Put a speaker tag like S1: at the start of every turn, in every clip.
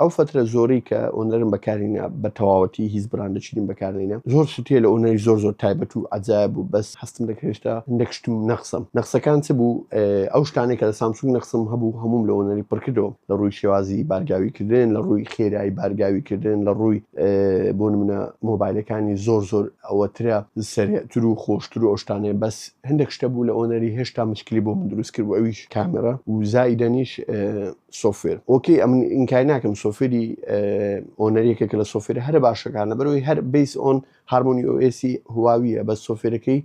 S1: ئەو فەترە زۆرەی کە ئۆنەرم بەکارینە بە تەواوەتی هیچ براندە چینیم بەکارینە زۆر شتێ لە ئۆنەری زۆر زۆر تایبەت و عجاە بوو بەس هەستم دەکرێشتا هەندێک شتم نەخسم نەخسەکان چ بوو ئەو شتانێک کە لە سامسونگ نەخسم هەبوو هەموم لە ئۆنەری پڕکردەوە لە ڕووی شێوازی بارگاوی کردن لە ڕووی خێرایی بارگاوی کردن لە ڕووی بۆ منە مۆبایلەکانی زۆر زۆر ئەوەترە سەرتر و خۆشتر و ئەو شتانێ بەس هەندێک شتە بوو لە ئۆنەری هێشتا مشکلی بۆ من دروست کرد و ئەویش کامێرا و زایدەنیش سۆفوێر ئۆکەی ئەمن ئینکای ناکەم سۆفێری ئۆنەرێکە کە لە سۆفێر هەرە باشەکانە بەرەوەی هەر بیس ئۆن هارمۆنی ئۆسی هواویە بە سۆفێرەکەی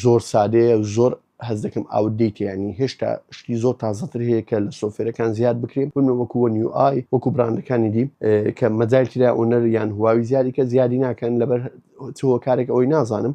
S1: زۆر سادەیە زۆر هەز دەکەم ئاودیتیانی هێشتا شتی زۆر تازەتر هەیە کە لە سۆفێرەکان زیاد بکرێن بنە وەکو وە نیو ئای وەکو براندەکانی دی کە مەجای کرا ئۆنەر یان هواوی زیادی کە زیادی ناکەن لەبەر هۆکارێک ئەوەی نازانم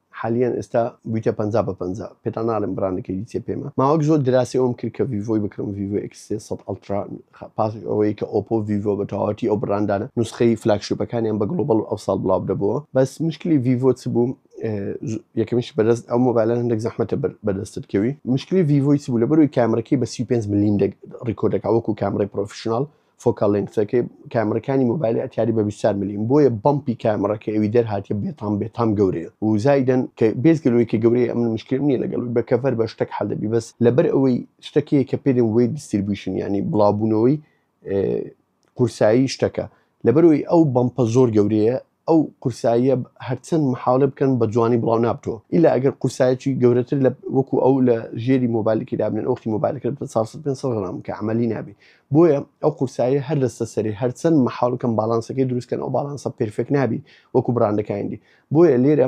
S1: حالیەن ئێستا بویتە پەنجا بە پەنجا پێتان ناڵێم بڕانەکەی دیکە پێمە ماوەک زۆر دراسی ئەوم کرد کە ڤیڤۆی بکڕم ڤیڤۆ ئێکس سێ سەد ئەڵترا پاس ئەوەی کە ئۆپۆ و ڤیڤۆ بە تەواوەتی ئەو بڕاندانە نوسخەی فلاگشیپەکانیان بە گڵۆبەڵ ئەو ساڵ بڵاو دەبەوە بەس مشکلی ڤیڤۆ چ بوو یەکەمیش بەدەست ئەو مۆبایلە هەندێک زەحمەتە بەدەستت کەوی مشکلی ڤیڤۆی چ بوو لە بەروی کامرەکەی بە 35 ملیم ڕیکۆردەکە وەکو کامرەی پرۆفشنال فۆکال لێنگثەکەی کامێڕەکانی مۆبایلی ئەتاری بە بیست و چوار ملیم بۆیە بەمپی کامێڕەکە ئەوی دەرهاتیە بێتام بێتام گەورەیە و زایدەن کە بێجگە لەوەی کە گەورەیە ئەمن مشکلم نیە لەگەڵ بە کەڤەر بە شتەک حەل دەبی بەس لەبەر ئەوەی شتەک هەیە کە پێدێن وەیت دیستریبیوشن یانی بڵاوبوونەوەی قورسایی شتەکە لەبەر ئەوەی ئەو بەمپە زۆر گەورەیە ئەو قورساییە هەرچەند محاولە بکەن بە جوانی بڵاو نابتەوە ئیلا ئەگەر قورسایەکی گەورەتر لە وەکو ئەو لە ژێری مۆبایلکی دابنێن ئۆختی مۆبایلەکە بە 400 غرام کە عملی نابێ بۆیە ئەو قورساییە هەر دەستە سەری هەرچەند محاولکەم باڵانسەکەی دروستکەن ئەو باڵانسە پرفێک نابی وەکو بڕاندەکانی دی بۆیە لێرە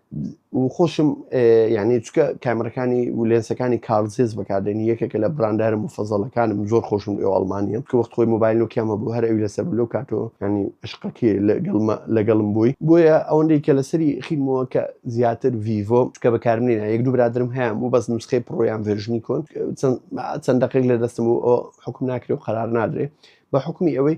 S1: و خۆشم یعنی چکە کامرەکانی و لێنسەکانی کارزیز بەکاردێنی یەکێکە لە براندارە مفەزەڵەکانم زۆر خۆشم ئێو ئەڵمانیە کە وەخت خۆی مۆبایل و کامە بوو هەر ئەوی لەسەر لەو کاتۆ ینی عشقەکی لەگەڵم بووی بۆیە ئەوەندەی کە لەسەری خیمەوە کە زیاتر ڤیڤۆ چکە بەکارمێنە یەک دوو برادرم هەیان بوو بەس نوسخەی پڕۆیان ڤێژنی کۆن چەند دقیق لە دەستم و حکم ناکرێ و قرار نادرێ بە حکومی ئەوەی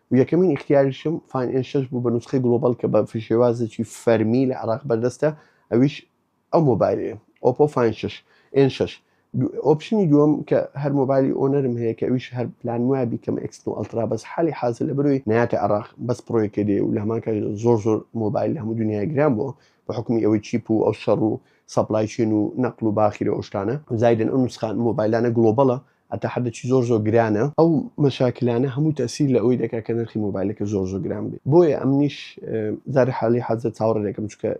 S1: و یەکەمین ئیختیاریشم فاین ئێن شەش بوو بە نوسخەی گڵۆبەڵ کە بە فشێوازێکی فەرمی لە عێراق بەردەستە ئەویش ئەو مۆبایلەیە ئۆپۆ فاین شەش ئێن شەش ئۆپشنی دووەم کە هەر مۆبایلی ئۆنەرم هەیە کە ئەویش هەر پلان وایە بیکەم ئەکسن و ئەلترا بەس حالی حازر لە بروی ناتە عراق بەس پرۆیەکە دێ و لە هەمان کاژ زۆر زۆر مۆبایل لە هەموو دنیای گران بووە بە حکومی ئەوەی چیپ و ئەو شەڕ و سەپلایچین و نەقل و باخیرە ئەو شتانە زایدن ئەو نوسخان مۆبایلانە گلۆبەڵە هەتا حەدەکی زۆر زۆر گرانە ئەو مەشاکلانە هەموو تەسیر لە ئەوی دەکات کە نرخی مۆبایلەکە زۆر زۆر گران بێت بۆیە ئەمنیش زاری حالی حەزە چاوەڕێ دەکەم چکە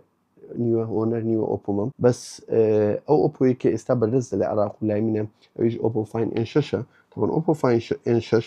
S1: نیوە هۆنەر نیوە ئۆپۆمەم بەس ئەو ئۆپۆی کە ئێستا بەردەستە لە عراق و لای منە ئەویش ئۆپۆفاین ئێن شەشە تەبن ئۆپۆفاین ئێن شەش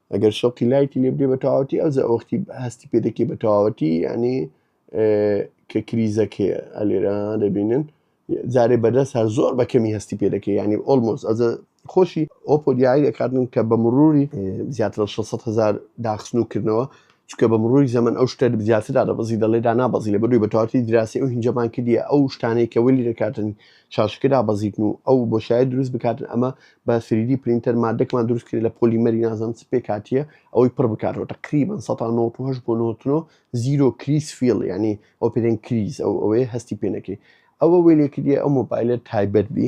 S1: ئەگەر شەوقی لایتی لێ بدەی بە تەواوەتی ئەوجا وەختی هەستی پێ دەکەی بە تەواوەتی یعنی کە کریزەکەیە ئەلێرە دەبینن جارێ بەدەست هەر زۆر بە کەمی هەستی پێ دەکەی ینی ئۆلمۆز ئەزە خۆشی ئۆپۆ دیاری دەکاتن کە بە مروری زیاتر لە 600 هزار داخستن و کردنەوە چونکە بە مڕووی زەمەن ئەو شتە زیاتر دادەبەزی دەڵێ دانابەزی لە بەرووی بە تەواتی دراسی ئەو هینجەمان کردیە ئەو شتانەی کە وەلی دەکاتن شاشەکە دابەزیتن و ئەو بۆ شاید دروست بکاتن ئەمە بە سریدی پرینتەر مادەکمان دروست کرد لە پۆلی مەری نازم چ پێکاتیە ئەوەی پڕ بکاتەوە تقریبان 1970 بۆ 99 زیرۆ کریس فیل ینی ئۆپرین کریز ئەو ئەوەیە هەستی پێنەکەی ئەوە وێلێکردە ئەو مۆبایلە تایبەت بی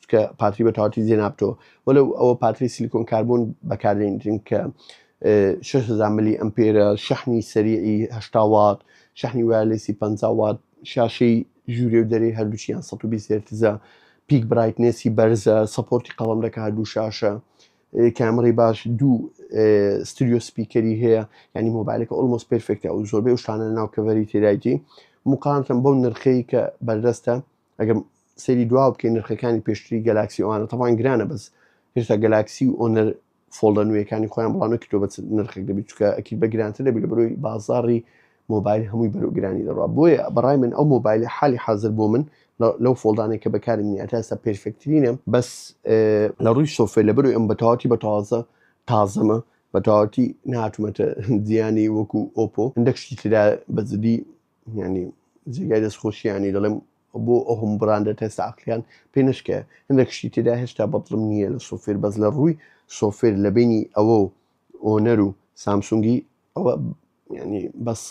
S1: چونکە پاتری بە تەواوەتی جێ نابتەوە وەلەو ئەوە پاتری سیلیکۆن کاربۆن بەکاردێنین کە 600 ملی ئەمپێرە شەحنی سەریعی هەشتا وات شەحنی وایلێسی 50 وات شاشەی ژوورێ و دەرێ هەردووچیان 120 هێرتزە پیک برایتنێسی بەرزە سەپۆرتی قەڵم دەکە هەردوو شاشە کامڕی باش دوو ستریۆ سپیکەری هەیە ینی مۆبایلەکە ئۆلمۆس پرفێکتە و زۆربەی شتانە ناو کەڤەری تێدایتی مقامتم بەو نرخەی کە بەردەستە ئەگەر سەیری دوا بکەین نرخەکانی پێشتری گەلاکسی ئەوانە تەوان گرانە بەس هێشتا گەلاکسی و ئۆنەر فۆڵدە نوێەکانی خۆیان بڵاو نەکردو بە نرخێک دەبیت چکە ئەکی بە گرانتر دەبی لە بەرۆی بازاری مۆبایل هەمووی بەرو گرانی دەڕوا بۆیە بەڕای من ئەو مۆبایل حالی حاضر بۆ من لەو فۆڵدانێک کە بەکاری منی ئەتاستا پێرفکترینە بەس لە ڕووی سۆفێ لە بەرو ئەم بەتەواتی بە تازە تازەمە بەتەواتی ناتومەتە دیانی وەکو ئۆپۆ هەندێک شتی تررا بەزدی یانی جێگای دەست خۆشییانی دەڵێم بۆ ئەو هەم بڕاندە تێستا عقلیان پێ نشکە هەندێک شتی تێدا هێشتا بەدڵم نییە لە سۆفێر بەس لە ڕووی سۆفێر لە بینی ئەوە و ئۆنەر و سامسونگی ئەوە ینی بەس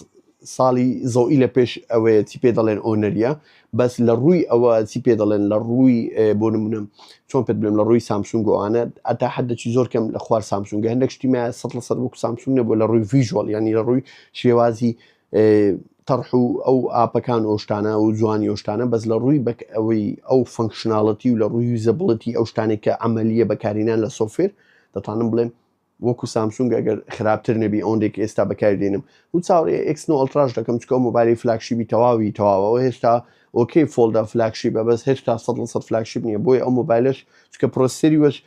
S1: ساڵی زەوئی لە پێش ئەوەیە چی پێ دەڵێن ئۆنەریە بەس لە ڕووی ئەوە چی پێ دەڵێن لە ڕووی بۆ نمونم چۆن پێ بلم لە ڕووی سامسونگ و ئاە ئەتا حدەکی زۆر کەم لە خوار سامسونگ هەندێک شتیمە سە لە سەر وک سامسونگ نەبوو لە ڕووی ویژوال ینی لە ڕووی شێوازی تەڕح و ئەو ئاپەکان ئەو شتانە و جوانی ئەو شتانە بەس لە ڕووی بەک ئەوەی ئەو فەنکشناڵەتی و لە ڕووی یوزەبڵەتی ئەو شتانێک کە ئەمەلیە بەکارینان لە سۆفێر دەتوانم بڵێم وەکو سامسونگ ئەگەر خراپتر نەبی ئەوەندێک ئێستا بەکاری دێنم و چاوەڕێ ئکسن و ئەلتراش دەکەم چکە مۆبایلی فلاکشیبی تەواوی تەواوەوە هێشتا ئۆکەی فۆلدا فلاکشیبە بەس هێشتا سە لە سەد فلاکشیب نییە بۆی ئەو مۆبایلش چکە پرۆسەری وەش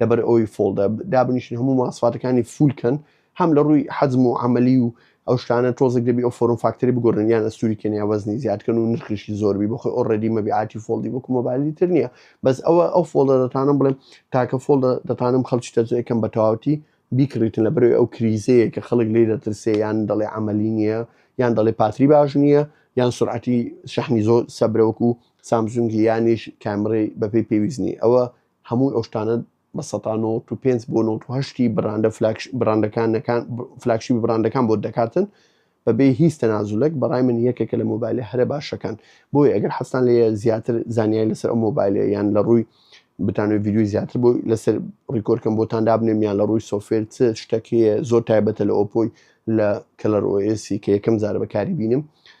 S1: لەبەر ئەوەی فۆڵدە دابنیشن هەموو ماسفاتەکانی فول کەن هەم لە ڕووی حەزم و عملی و ئەو شتانە تۆزێک دەبی ئەو فۆرم فاکتەری بگۆرن یان ئەستوری کەنیا وەزنی زیادکەن و نرخیشی زۆربی بخۆی ئۆڕێدی مەبیعاتی فۆڵدی وەکو مۆبایلی تر نییە بەس ئەوە ئەو فۆڵدە دەتانم بڵێم تاکە فۆڵدە دەتانم خەڵکی تەزوەکەم بە تەواوتی بیکڕیتن لە بەرەوەی ئەو کریزەیە کە خەڵک لی دەترسێ یان دەڵێ عملی نییە یان دەڵێ پاتری باش نییە یان سرعەتی شەحنی زۆر سەبرەوەکو سامسونگی یانیش کامڕی بەپی پێویست نیە ئەوە هەموو ئەو شتانە بە سەتا نۆت و پێنج بۆ نۆت و هەشتی بڕاندە فلاگشی بڕاندەکانەکان ب فلاگشیپی بڕاندەکان بۆت دەکاتن بە بێ هیچ تەنازولەک بەڕای من یەکێکە لە مۆبایلە هەرە باشەکان بۆیە ئەگەر حەزتان لێیە زیاتر زانیاری لەسەر ئەو مۆبایلە یان لە ڕووی بتانوێت ڤیدیۆی زیاتر بۆی لەسەر ڕیکۆرد کەم بۆتان دابنێم یان لە ڕووی سۆفێر چ شتەک هەیە زۆر تایبەتە لە ئۆپۆی لە کەلەر ئۆ ئێسی کە یەکەم جارە بەکاری بینم